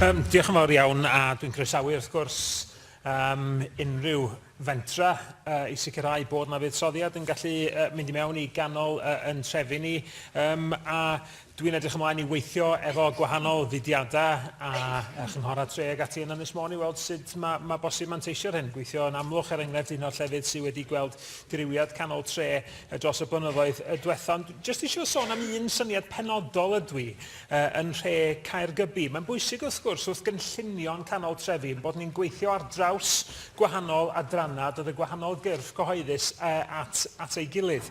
Um, diolch yn fawr iawn a dwi'n croesawu wrth gwrs um, unrhyw fentra uh, i sicrhau bod na fuddsoddiad yn gallu uh, mynd i mewn i ganol uh, yn trefi ni um, a dwi'n edrych ymlaen i weithio efo gwahanol fudiadau a, a chynghorau tre ag ati yn Ynys Môn i weld sut mae ma bosib manteisio'r hyn. Gweithio yn amlwg er enghraifft un o'r llefydd sydd wedi gweld diriwiad canol tre dros y blynyddoedd y diwethaf. Jyst eisiau sôn am un syniad penodol ydw i yn nhre Caergybi. Mae'n bwysig wrth gwrs wrth gynllunio'n canol trefi ein bod ni'n gweithio ar draws gwahanol adrannau, dod y gwahanol gyrff cyhoeddus at, at ei gilydd.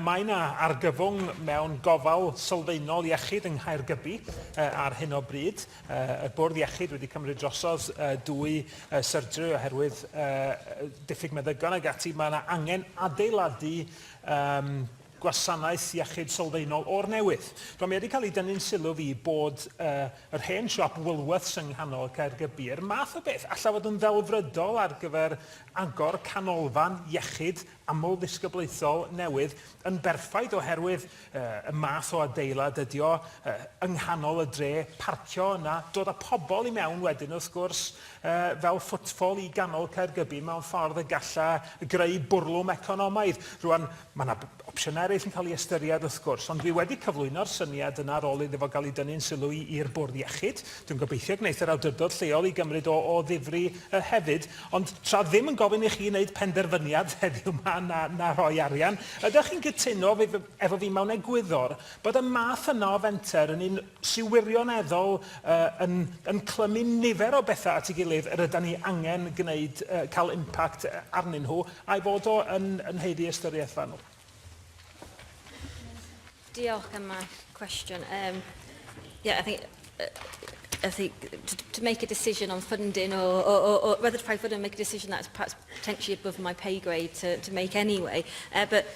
mae yna argyfwng mewn gofal sylfaenol iechyd yng Nghaergybi ar hyn o bryd. y bwrdd iechyd wedi cymryd drosodd dwy syrdyr oherwydd diffyg meddygon ag ati. Mae yna angen adeiladu um, gwasanaeth iechyd sylfaenol o'r newydd. Rwan, mae wedi cael ei dynnu'n sylw fi bod uh, yr hen siop Woolworths yng nghanol Caergybi, yr math o beth allaf fod yn ddelfrydol ar gyfer agor canolfan iechyd amlddisgyblaethol newydd yn berffaith oherwydd uh, y math o adeilad ydy o uh, yng nghanol y dre, parcio yna, dod â pobl i mewn wedyn wrth gwrs uh, fel ffwtffol i ganol Caergybi mewn ffordd y galla greu bwrlwm economaidd. Rwan, Mae yna opsiynau eraill yn cael ei ystyried wrth gwrs, ond fi wedi cyflwyno'r syniad yna ar ôl iddo fo gael ei dynnu'n sylw i i'r Bwrdd Iechyd. Dwi'n gobeithio gwneith yr awdurdod lleol i gymryd o o ddifri yy hefyd. Ond tra ddim yn gofyn i chi wneud penderfyniad heddiw 'ma na na rhoi arian, ydych chi'n gytuno efo fi mewn egwyddor bod y math yna o fenter yn un sy wirioneddol yy yn yn clymu nifer o betha at ei gilydd yr ydan ni angen gneud yy ca'l impact yy arnyn nhw, a'i fod o yn yn haeddu ystyriaeth fanwl. Diolch am y cwestiwn. Um, yeah, I think, uh, I think to, to make a decision on funding or, or, or, or whether to pay funding, make a decision that's perhaps potentially above my pay grade to, to make anyway. Uh, but